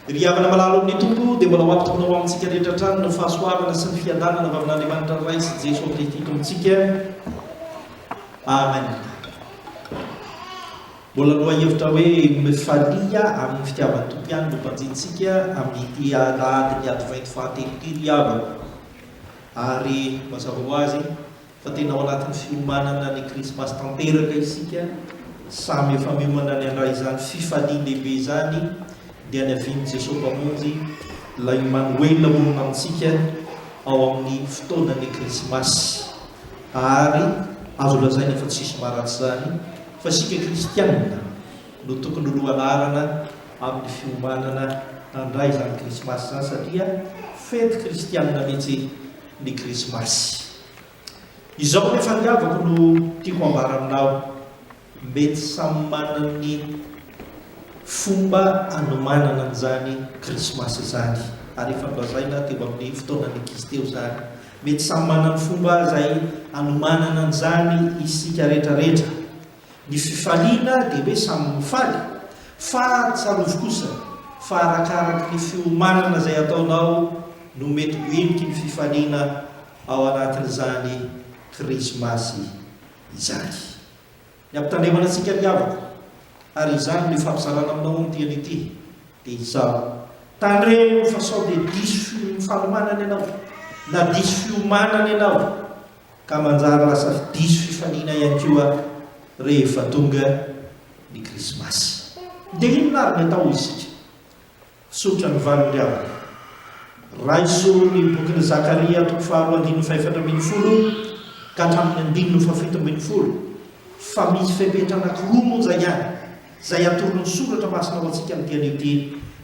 Ry havana malala ao amin'ny Tompo, dia mbola ho ampitony ho amintsika rehetra hatrany ny fahasoavana sy ny fiadanana avy amin'Andriamanitra ny Ray sy Jesoa Kristy Tompontsika. Amen. Mbola lohahevitra hoe me falia amin'ny fitiavan'ny Tompo ihany no banjintsika amin'ity alahadin'ny Advento fahatelo ity ry havana. Ary mazava ho azy, Fa tena ao anatin'ny fiomanana ny krismasy tanteraka isika, samy efa miomana ny handray izany fifalian-dehibe izany, dia ny havian'i Jesoa Mpamonjy, Ilay Imanoela monina amintsika ao amin'ny fotoanan'ny krismasy. Ary azo lazaina fa tsisy maharatsy izany fa isika kristianina no tokony ho lohanarana amin'ny fiomanana handray izany krismasy izany satria fety kristianina mihitsy ny krismasy. Izao ny fatiavako no tiako ambara aminao, mety samy manana ny fomba anomanana an'izany krismasy izany, ary efa nolazaina teo amin'ny fotoanan'ny ankizy teo izany, mety samy manana ny fomba izay anomanana an'izany isika rehetra rehetra, Ny fifaliana dia hoe samy ho faly, fa tsarovy kosa fa arakaraky ny fiomanana izay ataonao no mety ho heniky ny fifaliana ao anatin'izany Krismasy izany. Ny ampitandremana antsika ry havako, ary izany no ifampizarana aminao ombieny ity, dia izao, tandremo fa sao dia diso fiomanana ianao, na diso fiomanana ianao, ka manjary lasa diso fifaliana ihany koa rehefa tonga ny krismasy. Dia inona ary ny atao hoy isika? Tsotra ny valiny havana. Raiso ny bokin'i Zakaria toko faharoa andininy fahefatra ambin'ny folo ka hatramin'ny andininy fahafito ambin'ny folo fa misy fepetra anankiroa monja ihany. Izay atoron'ny soratra masina ho antsika amin'ity anio ity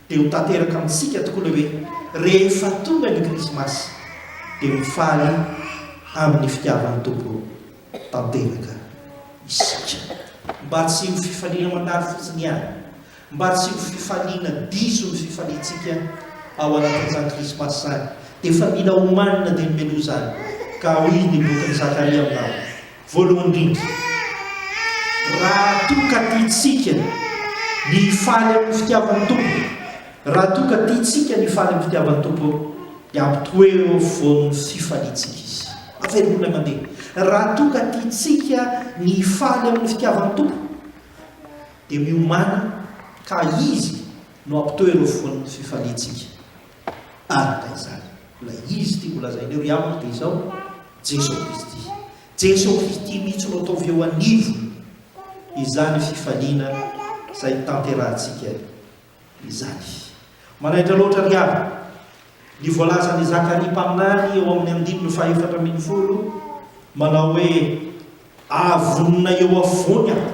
dia ho tanteraka amintsika tokoa ilay hoe rehefa tonga ny krismasy dia ho faly amin'ny fitiavan'ny Tompo tanteraka isika. Mba tsy ho fifaliana mandalo fotsiny ihany, mba tsy ho fifaliana diso ny fifaliantsika ao anatin'izany krismasy izany dia efa mila omanina dia ny meloa izany ka hoy ny bokin'i Zakaria aminao. Voalohany indrindra, raha toa ka tiantsika ny hifaly amin'ny fitiavan'ny Tompo, raha toa ka tiantsika ny hifaly amin'ny fitiavan'ny Tompo, dia ampitoero eo afovoan'ny fifaliantsika Izy. Avereno ilay mandeha. Raha toa ka tiantsika ny hifaly amin'ny fitiavan'ny Tompo, dia miomàna ka Izy no ampitoero eo afovoan'ny fifaliantsika. Araka izany, ilay izy tiako lazainay ry havako dia izao, Jeso Kristy. Jeso Kristy mihitsy no ataovy eo anivon' izany fifaliana izay tanterahantsika izany. Manaitra loatra ry havako ny voalazan' i Zakaria mpaminany eo amin' ny andininy fahefatra ambin'ny folo manao hoe, Aah vonona eo afovoany aho.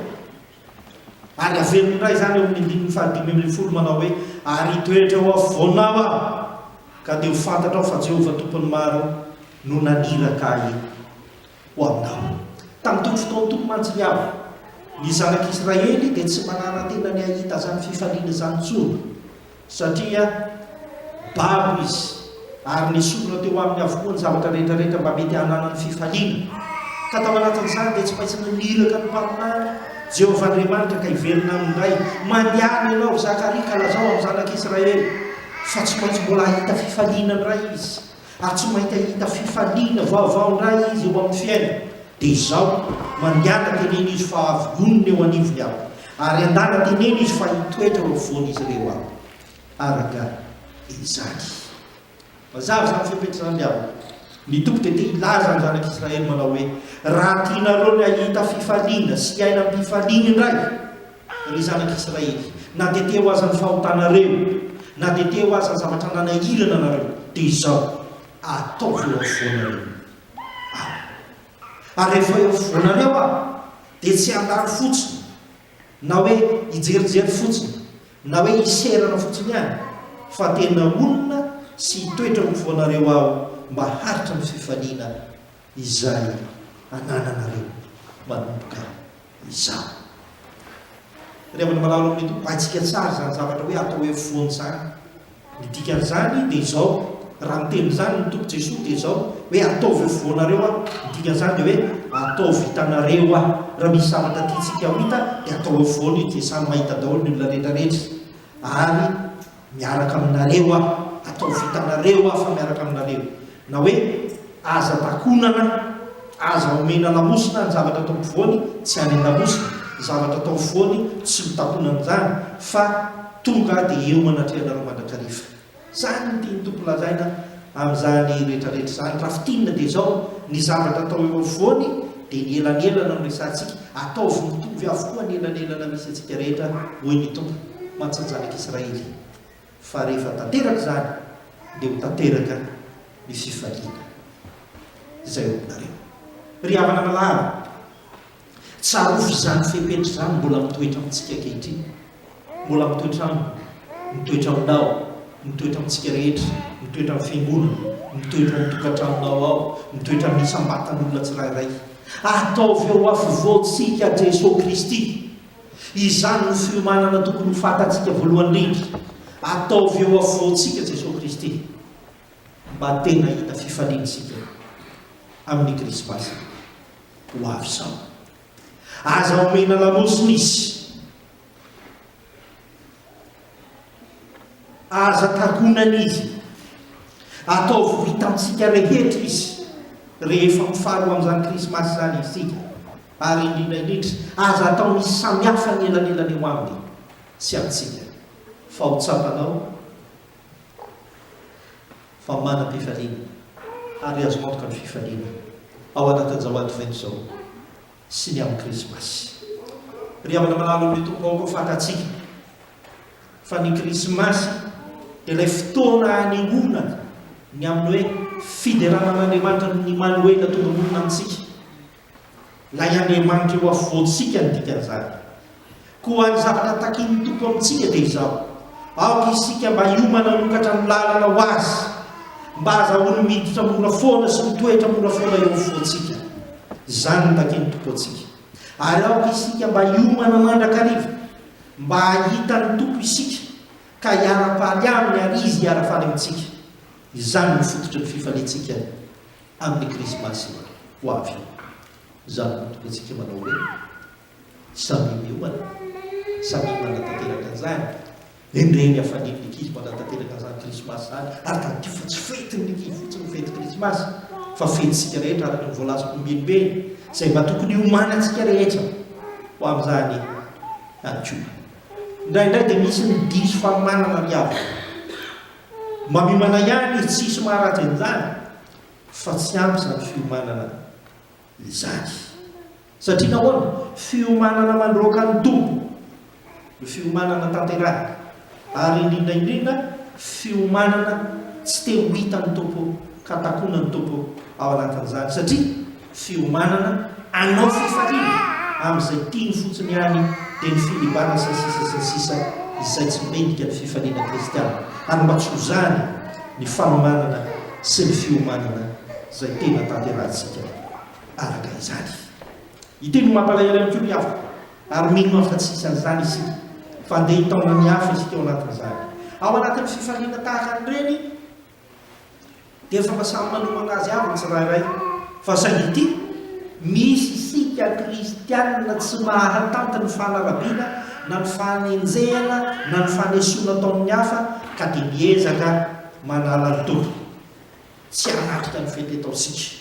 Ary averiny indray izany eo amin'ny andininy fahadimy ambin'ny folo manao hoe, Ary hitoetra eo afovoanao aho, ka dia ho fantatrao fa Jehovah Tompon'ny Maro no naniraka ahy ho aminao. Tamin'itony fotoana itony mantsy ry havana, ny Zanak'Israely dia tsy manara-tena ny hahita izany fifaliana izany intsony. Satria babo izy, ary nesorina teo aminy avokoa ny zavatra rehetra rehetra mba mety hananany fifaliana. Ka tao anatin'izany dia tsy maintsy naniraka ny Mpaminany, Jehovah Andriamanitra, ka hiverina aminy indray. Maniaina ianao, ry Zakaria, ka lazao amin'ny zanak'Israely fa tsy maintsy mbola hahita fifaliana indray izy. ary tsy maita hita fifaliana vaovao ndray izy eo amin'ny fiaina dia izao mandiana tenena izy fa avy nonina eo anivony aho ary andana tenena izy fa hitoetra eo afovoan'izy ireo aho araka izany mazava izany fepetra izany aho ny tompo dia te hilaza ny zanak'israely manao hoe raha tianareo ny hahita fifaliana sy hiaina am-pifaliana indray Ry zanak' Israely, na dia teo aza ny fahotanareo, na dia teo aza ny zavatra nanahirana anareo, dia izao, ataovy eo afovoanareo Aho. Ary rehefa eo afovoanareo Aho, dia tsy handalo fotsiny, na hoe hijerijery fotsiny, na hoe hiserana fotsiny any, fa tena honina sy hitoetra eo afovoanareo Aho mba haharitra ny fifaliana, izay anananareo manomboka izao. Rehavan'ny Mpalalao ny Tompo, haintsika tsara izany zavatra hoe atao hoe foana izany. Ny dikan'izany dia izao, raha miteny izany ny Tompo Jesoa dia izao hoe ataovy ho foanareo aho, ny dikan'izany dia hoe ataovy hitanareo aho. Raha misy zavatra tiantsika ho hita dia atao ho foana izy dia samy mahita daholo ny olona rehetra rehetra. Ary Miaraka aminareo aho, ataovy hitanareo aho fa miaraka aminareo. Na hoe, Aza takonana, aza omena lamosina ny zavatra atao ampovoany, tsy any an-damosina, ny zavatra atao afovoany, tsy ho takonana izany, fa tonga dia eo anatrehanareo mandrakariva. Izany no tian'ny Tompo lazaina. Amin'izany rehetrarehetra izany, raha fintinina dia izao, ny zavatra atao eo afovoany dia ny elanelana no resahantsika, ataovy mitovy avokoa ny elanelana misy antsika rehetra, hoy ny Tompo, mantsy ny zanak'Israely, fa rehefa tanteraka izany dia ho tanteraka ny fifaliana izay ho aminareo. Ry havana malala, Tsarovy izany fepetra izany mbola mitoetra amintsika ankehitriny. Mbola mitoetra aminy, mitoetra aminao, mitoetra amintsika rehetra, mitoetra amin'ny Fiangonana, mitoetra ao amin'ny tokantranonao ao, mitoetra amin'ny isam-batan'olona tsirairay. Ataovy ao afovoantsika Jesoa Kristy. Izany no fiomanana tokony ho fantatsika voalohany indrindra. Ataovy eo afovoantsika Jesoa Kristy, mba tena hahita fifaliana isika amin'ny Krismasy. ho avy izao. Aza omena lamosina izy. Aza takonana izy. Ataovy vitantsika rehetra izy rehefa mifaro amin'izany krismasy izany isika. Ary indrindra indrindra, aza atao misy samihafa ny elanelany eo aminy sy amintsika. Fa ho tsapanao fa manam-pifaliana ary azo antoka ny fifaliana ao anatin'izao Advento izao sy ny amin'ny Krismasy. Ry havana malalon'ny Tompo, aoka ho fantatsika fa ny Krismasy dia ilay fotoana anehoana ny amin'ny hoe fiderana an'Andriamanitra ny Manoela tonga manorina amintsika. Ilay Andriamanitra eo afovoantsika no dikan'izany. Koa ny zavatra takin'ny Tompo amintsika dia izao, aoka isika mba hiomana hanokatra ny lalana ho Azy, mba hahazahoany miditra mora foana sy mitoetra mora foana eo afovoantsika. Izany no takin'ny Tompo antsika. Ary aoka isika mba hiomana mandrakariva, mba hahita ny Tompo isika, ka hiara-paly Aminy ary Izy hiara-faly amintsika. Izany no fototry ny fifaliantsika Amin'ny krismasy ho avy io, izany no tokantsika manao hoe, Samia miomana, samia manatanteraka izany, endrey ny hafalian'ny ankizy manatanteraka izany krismasy izany, ary tadidio fa tsy fetin'ny ankizy fotsiny ny fety krismasy, fa fetintsika rehetra araka ny voalazako ombienimbeny, izay mba tokony hiomanantsika rehetra ho amin'izany ihany koa. Indraindray dia misy ny diso fanomanana ry havana. Mamimana ihany izy tsisy maharatsy an'izany fa tsy ampy izany fiomanana izany. Satria nahoana? Fiomanana mandroaka ny Tompo no fiomanana tanterahina ary indrindra indrindra fiomanana tsy te ho hitan'ny Tompo ka takonan'ny Tompo ao anatin'izany satria fiomanana anao fifaliana amin'izay tiany fotsiny ihany dia ny filibana sy ny sisa sy ny sisa izay tsy mendrika ny fifaliana kristiana ary mba tsy ho zany ny fanomanana sy ny fiomanana izay tena tanterahantsika araka izany. Ity no mampalahelo ihany koa ry havana ary mino aho fa tsy hisy an'izany isika fa handeha hitaona ny hafa isika ao anatin'izany ao anatin'ny fifaliana tahaka an'ireny Dia efa mba samy manomana azy avy ny tsirairay. Fa saingy ity, misy isika kristianina tsy mahatanty ny fanarabiana na ny fanenjehana na ny fanesoana ataon'ny hafa ka dia miezaka manala ny tompony. Tsy hanatrika ny fety ataontsika.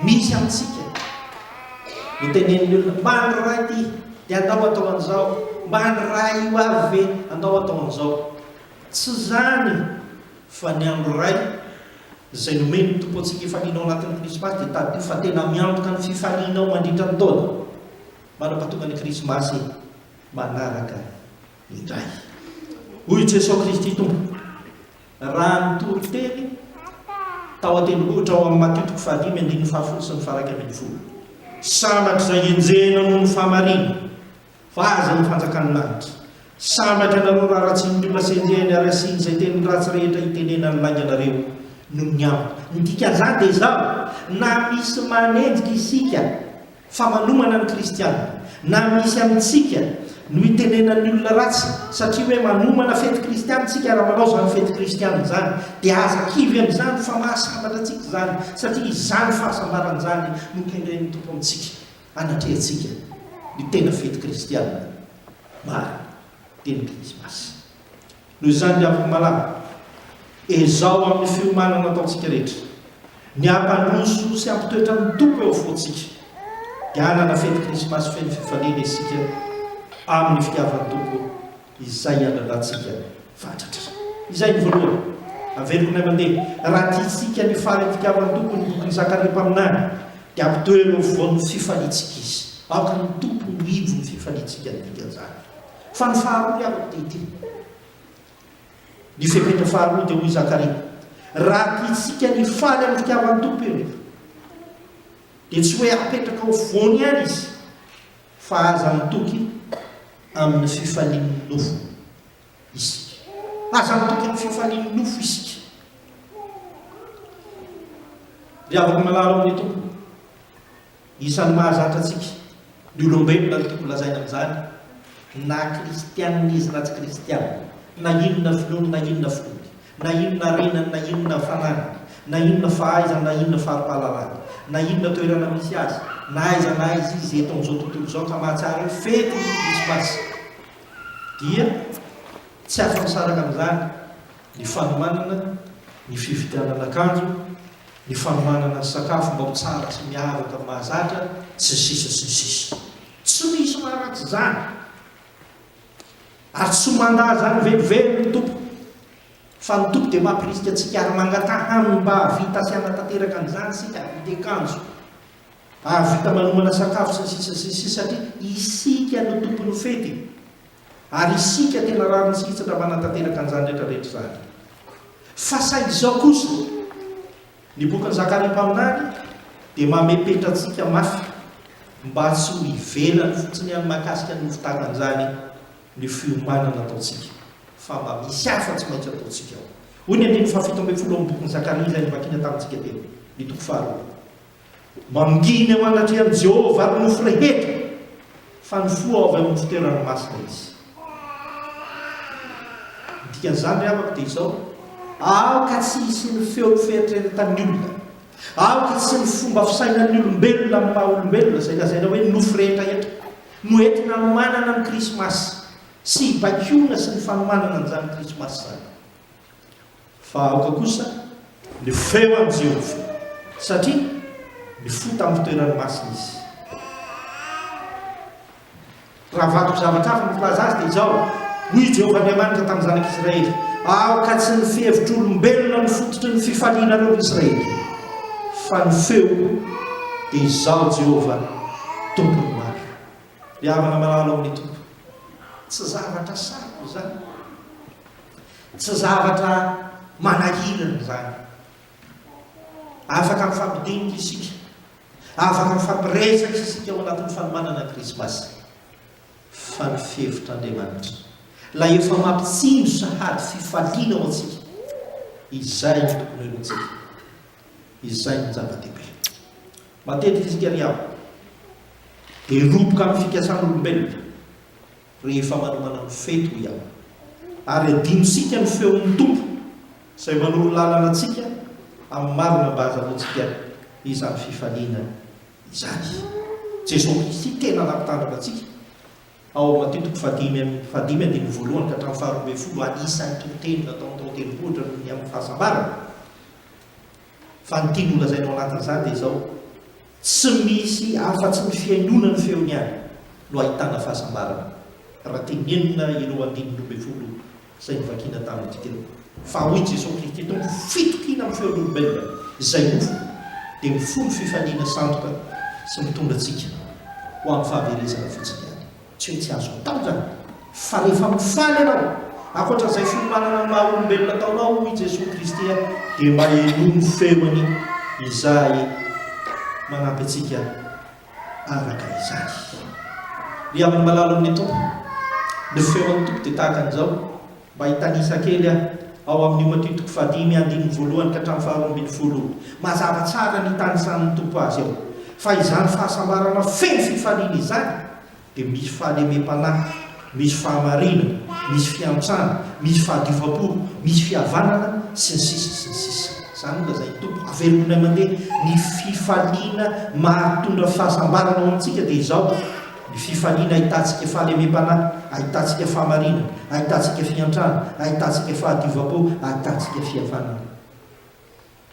Misy amintsika no tenenin'ny olona, mba ny raha ity dia andao atao an'izao, mba ny raha io avy ve andao atao an'izao. Tsy izany fa ny andro iray izay nomen'ny Tompo antsika efa lina ao anatin'ny Krismasy dia tadidio fa tena miantoka ny fifalianao mandritra ny taona. Manampahatonga ny Krismasy manaraka indray. Hoy i Jesoa Kristy Tompo. raha nitory teny tao an-tendrombohitra ao amin'ny Matio toko fahadimy andininy fahafolo sy ny faha-iraika ambin'ny folo. Sambatra izay enjehina noho ny fahamarina, fa azy ny fanjakan'ny lanitra. Sambatra ianareo raha ratsian'ny olona sy enjehiny ary asiany izay teny ratsy rehetra itenenany lainga anareo noho ny aminy. Ny dikan'izany dia izao, na misy manenjika isika, Fa manomana ny kristiana, na misy amintsika, no itenenan'ny olona ratsy satria hoe manomana fety kristiana isika raha manao izany fety kristiana izany. Dia aza kivy amin'izany fa mahasambatra antsika izany satria izany fahasambarana izany no kendren'ny Tompo amintsika anatrehantsika ny tena fety kristiana marina dia ny krismasy. Noho izany, ry havana malala, ezaho amin'ny fiomanana ataontsika rehetra ny hampandroso sy hampitoetra ny Tompo eo afovoantsika, dia hanana fety Krismasy feno fifaliana isika amin'ny fitiavan'ny Tompo izay iandrandrantsika fatratra. Izay ny voalohany. Averiko indray mandeha, raha tiantsika ny faly amin'ny fitiavan'ny Tompo ny bokin'i Zakaria mpaminany, dia ampitoero eo afovoan'ny fifaliantsika Izy. Aoka ny Tompo ho ivon'ny fifaliantsika ny dikan'izany. Fa ny faharoa ny amiko dia ity. Ny fepetra faharoa dia hoy Zakaria, Raha tiantsika ny hifaly amin'ny fitiavan'ny Tompo ireto, dia tsy hoe apetraka ho voany ihany izy, fa aza mitoky amin'ny fifalian'ny nofo isika. Aza mitoky amin'ny fifalian'ny nofo isika. Ry havako malala ao amin'ny Tompo, Isan'ny mahazatra antsika, ny olombelona, no tokony lazaina amin'izany, na kristiana izy na tsy kristiana, na inona finoany na inona finoany, na inona harenany na inona fananany, na inona fahaizany na inona fari-pahalalany, na inona toerana misy azy, na aiza na aiza izy eto amin'izao tontolo izao ka mahatsiaro hoe fety ny Krismasy, dia tsy afa-misaraka amin'izany ny fanomanana, ny fividianana akanjo, ny fanomanana ny sakafo mba ho tsara sy miavaka mahazatra, sy ny sisa sy ny sisa. Tsy misy maharatsy izany, ary tsy mandà izany velively ny Tompo, fa ny Tompo dia mampirisika antsika ary mangataha Aminy mba hahavita sy hanatanteraka an'izany isika, hahavita akanjo, hahavita manomana sakafo, sy ny sisa sy ny sisa, satria isika no tompon'ny fety. Ary isika tena rariny sy hitsatra manatanteraka an'izany rehetra rehetra izany. Fa sa izao kosa? Ny bokin'i Zakaria mpaminany dia mamepetra antsika mafy mba tsy ho ivelany fotsiny ihany mahakasika ny hofotanana izany ny fiomanana ataontsika, fa mba misy hafa tsy maintsy ataontsika ao. Hoy ny andininy fahafito ambin'ny folo ao amin'ny bokin'i Zakaria izay novakina tamintsika teo, ny toko faharoa. Mandini eo anatrehan'i Jehovah ary nofy rehetra, fa nifoha avy amin'ny fitoerany masina izy. Ny dikan'izany ry havako dia izao, Aoka tsy hisy ny feo fieritreretan'ny olona, aoka tsy ny fomba fisainan'ny olombelona amin'ny maha-olombelona, izay lazaina hoe nofy rehetraretra, no entina hanomanana ny Krismasy sy hibaikoana sy ny fanomanana an'izany Krismasy izany. Fa aoka kosa ny feo an'i Jehovah, satria mifoha tamin'ny toerany masina izy. Raha vaky zavatra hafa ny filaza azy, dia izao, Hoy i Jehovah Andriamanitra tamin'ny zanak'Israely, Aoka tsy ny fihevitr'olombelona no fototry ny fifalianareo ry Israely, fa ny feoko dia izaho Jehovah, Tompon'ny maro. Ry havana malala ao amin'ny Tompo, tsy zavatra sarotra izany. Tsy zavatra manahirana izany. Afaka mifampidinika isika, afaka mifampiresaka isika ao anatin'ny fanomanana Krismasy. Fa ny fevitr'Andriamanitra, ilay efa mampitsinjo sahady fifaliana ho antsika, izay no tokony helohintsika. Izay no zava-dehibe. Matetika isika ry havana dia roboka amin'ny fikasan'olombelona. rehefa manomana ny fety, hoy aho, ary adinontsika ny feon'ny Tompo izay manoro lalana antsika amin'ny marina mba hahazahoantsika izany fifaliana izany. Jesoa Kristy tena nampitandrina antsika ao amin'ny Matio toko fahadimy amby fahadimy andininy voalohany ka hatramin'ny faharoa ambin'ny folo, anisan'ny toriteny nataony tao an-tendrombohitra noho ny amin'ny fahasambarana, fa ny tiany holazaina ao anatin'izany dia izao, Tsy misy afa-tsy ny fihainoana ny feony ihany no ahitana fahasambarana, raha tenenina ireo andininy roa ambin'ny folo izay novakina tamin'ny dikany. Fa hoy Jesoa Kristy Tompo, Fitokiana amin'ny feon'olombelona izay nofo dia mifono fifaliana sandoka sy mitondra antsika ho amin'ny fahaverezana fotsiny ihany. Tsy hoe tsy azoko atao izany, fa rehefa mifaly ianao, ankoatra izay fiomanana ny maha olombelona ataonao hoy i Jesoa Kristy aho, dia mba henoy ny feony izahay manampy antsika araka izany. Ry amin'ny malalin'ny Tompo, ny feon'ny Tompo dia tahaka an'izao. Mba hitanisa kely aho, ao amin'io matitiko fahadimy andininy voalohany ka hatramin'ny faharoa ambin'ny folo, mazava tsara ny hitanisan'ny Tompo azy ao, fa izany fahasambarana feno fifaliana izany dia misy fahalemem-panahy, misy fahamariana, misy fiantsana, misy fahadiovam-po, misy fihavanana, sy ny sisa sy ny sisa. Izany nolazain'ny Tompo, avelominay mandeha, ny fifaliana mahatondra fahasambarana ho antsika dia izao, Ny fifaliana ahitantsika fahalemem-panahy, ahitantsika fahamariana, ahitantsika fiantrana, ahitantsika fahadiovam-po, ahitantsika fihavanana.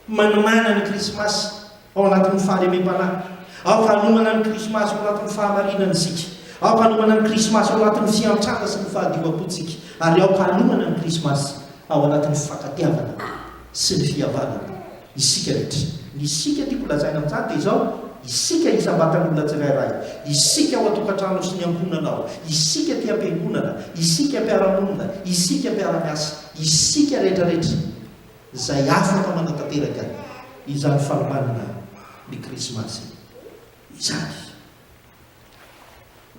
Manimanina ny Krismasy ao anatin'ny fahalemem-panahy. Aoka hanomana ny Krismasy ao anatin'ny fahamarinana isika. Aoka hanomana ny Krismasy ao anatin'ny fiantrana sy ny fahadiovam-pontsika. Ary aoka hanomana ny Krismasy ao anatin'ny fifankatiavana sy ny fihavanana. Isika rehetra. Ny isika tiako lazaina amin'izany dia izao, isika isam-batan'olona tsirairay, isika ao an-tokantrano sy ny ankohonana ao, isika aty am-piangonana, isika mpiara-monina, isika mpiara-miasa, isika rehetrarehetra izay afaka manatanteraka izany fanomanana ny Krismasy izany.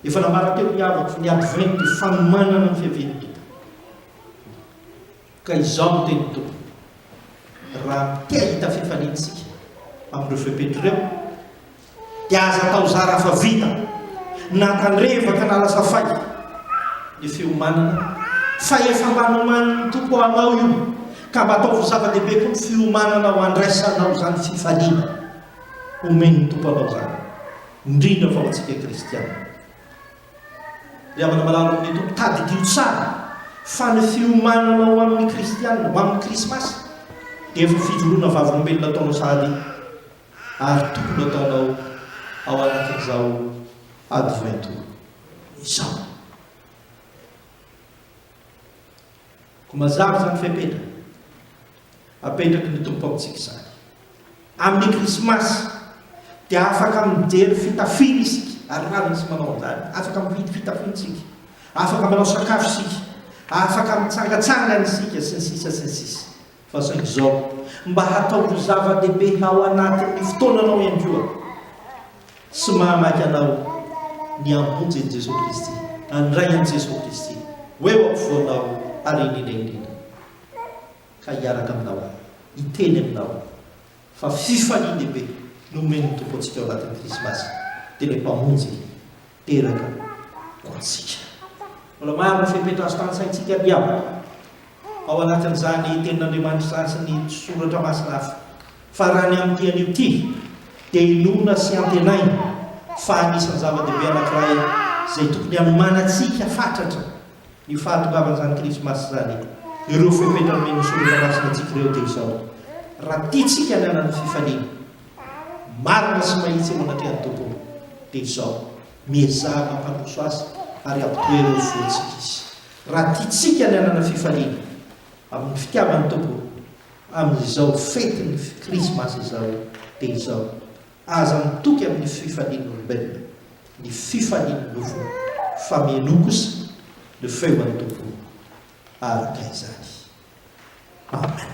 Efa nambarako teo ny havako fa ny Advent dia fanomanana ny fiavian'ny Tompo. Ka izao no tenin'ny Tompo, Raha te hahita fifaliana isika amin'ireo fepetra ireo, dia aza atao zara fa vita, na tandrevaka na lasa fay, ny fiomanana, fa efa mba nomanin'ny Tompo anao io, ka mba ataovy zava-dehibe koa ny fiomanana ho andraisanao izany fifaliana omen'ny Tompo anao izany, indrindra fa ho antsika kristiana. Ry havana malala ny Tompo, tadidio tsara fa ny fiomanana ho amin'ny Kristianina, ho amin'ny Krismasy, dia efa fijoroana vavolombelona ataonao sahady ary tokony ataonao ao anatin'izao Advento izao. Koa mazava izany fepetra apetraky ny Tompo amintsika izany. Amin'ny Krismasy dia afaka mijery fitafiana isika, ary rariny isika manao an'izany. Afaka mividy fitafiana isika, afaka manao sakafo isika, afaka mitsangatsangana isika, sy ny sisa sy ny sisa. Fa saingy izao, mba hataovy zava-dehibe ao anatin'ny fotoananao ihany koa sy mahamaika anao ny hamonjy an'i Jesoa Kristy, handray an'i Jesoa Kristy ho eo am-povoanao ary indrindra indrindra ka hiaraka aminao, hiteny aminao fa fifalian-dehibe no omen'ny Tompo antsika ao anatin'ny Krismasy, dia ilay Mpamonjy. teraka ho antsika. Mbola maro ny fepetra azo tanisaintsika ry havana ao anatin'izany tenin'Andriamanitra izany sy ny soratra masina hafa. Fa raha ny amin'ity anio ity dia inoana sy antenaina fa anisan'ny zava-dehibe anankiray izay tokony hanomanantsika fatratra ny fahatongavan'izany Krismasy izany. Ireo fepetra nomen'ny soratra masina antsika ireo dia izao, Raha tiantsika ny hanana fifaliana, marina sy mahitsy eo anatrehan'ny Tompo dia izao, miezaha mampandroso azy ary ampitohy ireo voantsika izy. Raha tiantsika ny hanana fifaliana amin'ny fitiavan'ny Tompo amin'izao fetin'ny Krismasy izao dia izao, aza mitoky amin'ny fifalian'ny olombelona ny fifalian'ny nofo fa mienoa kosa ny feon'ny Tompo araka izany. Amen.